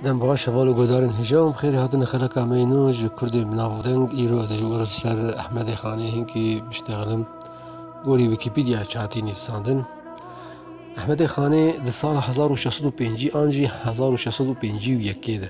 Dem baş heval û guhdarên hijab bi xêrê hatin li xeleka me yê nû ji kurdên bi navdeng îro ez ê ji wir li ser Ehmedê Xanê Hinkî biştexilim gorî wîkîpîdyaya çatî nivîsandin Ehmedê Xanê di sala hezar û şeş sed û pêncî an jî hezar û şeş sed û pêncî û yekê de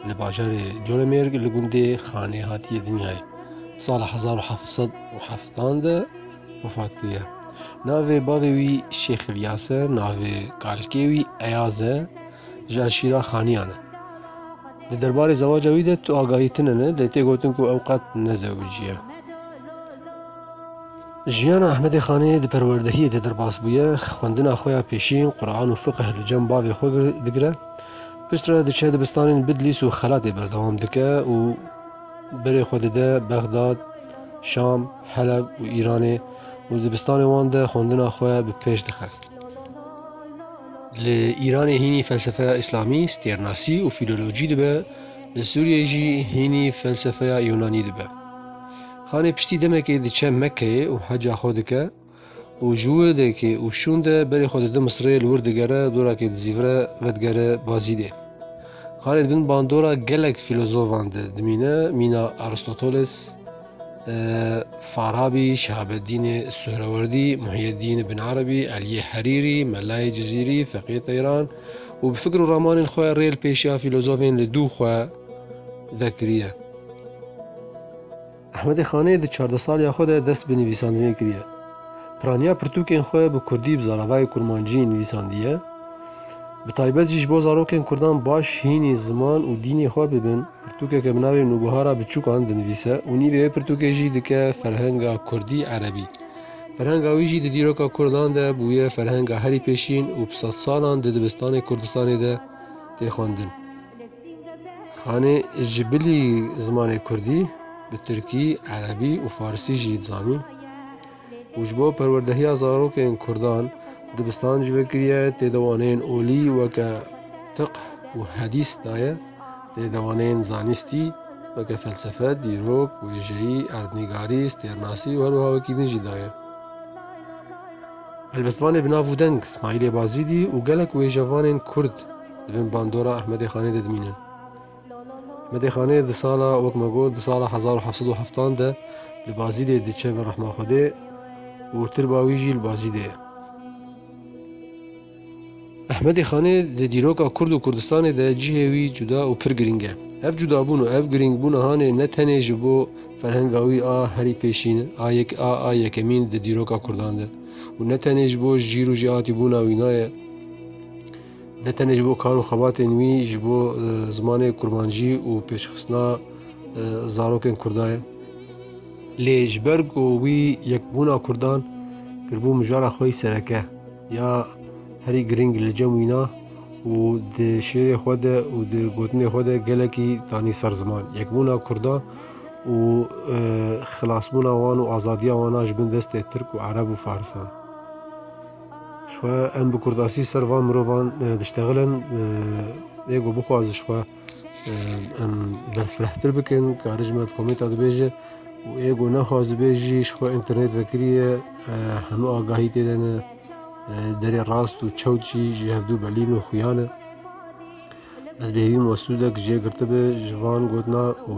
li bajarê Colemêrg li gundê Xanê hatiye dinyayê di sala hezar û heft sed û heftan de wefat bûye. Navê bavê wî Şêx Îlyas e, navê kalkê wî Eyaz e, ji Şîra Xaniyan e. Di derbarê zewaca wî de tu agahî tune ne lê tê gotin ku ew qet ne zewiciye. Jiyana Ehmedê Xanê di perwerdehiyê de derbas bûye, xwendina xwe ya pêşîn, Quran û Fiqh li cem bavê xwe digire. Piştre diçe dibistanên Bidlîs û Xelatê berdewam dike û. Berê xwe dide Bexdad, Şam, Heleb û Îranê û li dibistanê wan de xwendina xwe bi pêş dixe. Li Îranê hînî felsefeya Îslamî, stêrnasî û fîlolojî dibe, li Sûriyeyê jî hînî felsefeya Yûnanî dibe. Xanê piştî demekê diçe Mekkeyê û heca xwe dike. Û ji wê deke û şûn de berê xwe dide Misirê li wir digere dorakê dizîvire vedigere Bazîlê. Xalê di bin bandora gelek fîlozofan de dimîne mîna Aristoteles, Farabî, Şihabeddînê Suhrewerdî, Muhîeddîn Ibn Erebî, Eliyê Herîrî, Melayê Cizîrî, Feqiyê Teyran û bi fikir û ramanên xwe rê li pêşiya fîlozofên li dû xwe vekiriye. Ehmedê Xanê di çardeh saliya xwe de dest bi nivîsandinê kiriye. Piraniya pirtûkên xwe bi kurdî bi zaravayê kurmancî nivîsandiye. Bi taybet jî ji bo zarokên kurdan baş hînî ziman û dînê xwe bibin, pirtûkeke bi navê Nûbihara Biçûkan dinivîse û nîvê vê pirtûkê jî dike ferhenga kurdî-erebî. Ferhenga wî jî di dîroka kurdan de bûye ferhenga herî pêşîn û bi sedsalan di dibistanê Kurdistanê de tê xwendin. Xanê ji bilî zimanê kurdî bi tirkî, erebî û farsî jî dizanî û ji bo perwerdehiya zarokên kurdan dibistan jî vekiriye, tê de waneyên olî weke fiqh û hedîs daye, tê de waneyên zanîstî weke felsefe, dîrok, wêjeyî, erdnîgarî, stêrnasî û herwiha wekî din jî daye. Helbestvanê bi nav û deng Smahîlê Bazîdî û gelek wêjevanên kurd. Di bin bandora Ehmedê Xanê de dimînin. Ehmedê Xanê di sala wek me got di sala hezar û heft sed û heftan de li Bazîdê diçe bi rehma Xwedê û tirba wî jî li Bazîdê ye. Ehmedê Xanê di dîroka Kurd û Kurdistanê de cihê wî cuda û pir girîng e. Ev cudabûn û ev girîngbûna hanê ne tenê ji bo ferhenga wî a herî pêşîn a yek a a yekemîn di dîroka Kurdan de û ne tenê ji bo jîr û jêhatîbûna wî naye. Ne tenê ji bo kar û xebatên wî ji bo zimanê kurmancî û pêşxistina zarokên Kurda ye. Lê ji ber ku wî yekbûna Kurdan kiribû mijara xwe yî sereke ya herî girîng li cem wîna û di şêrê xwe de û di gotinê xwe de gelekî danî ser ziman. Yekbûna Kurdan û xilasbûna wan û azadiya wan a ji bin destê Tirk û Ereb û Farisan. Xwe em bi kurdasî ser van mirovan diştexilin ê ku bixwa ji xwe em berfirehtir bikin karê ji me di komêta dibêje û ê ku nexwazibê jî ji xwe înternêt vekiriye hemû agahî tê de ne derê rast û çewt jî ji hevdû belîn û xuya ne. Ez bêhîvîm we sûdek jê girtibe ji van gotina û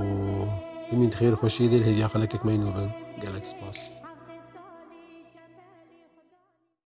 bimîn di xêrxweşiyê de li hêviya xelekek me yîn we bin. Gelek spas.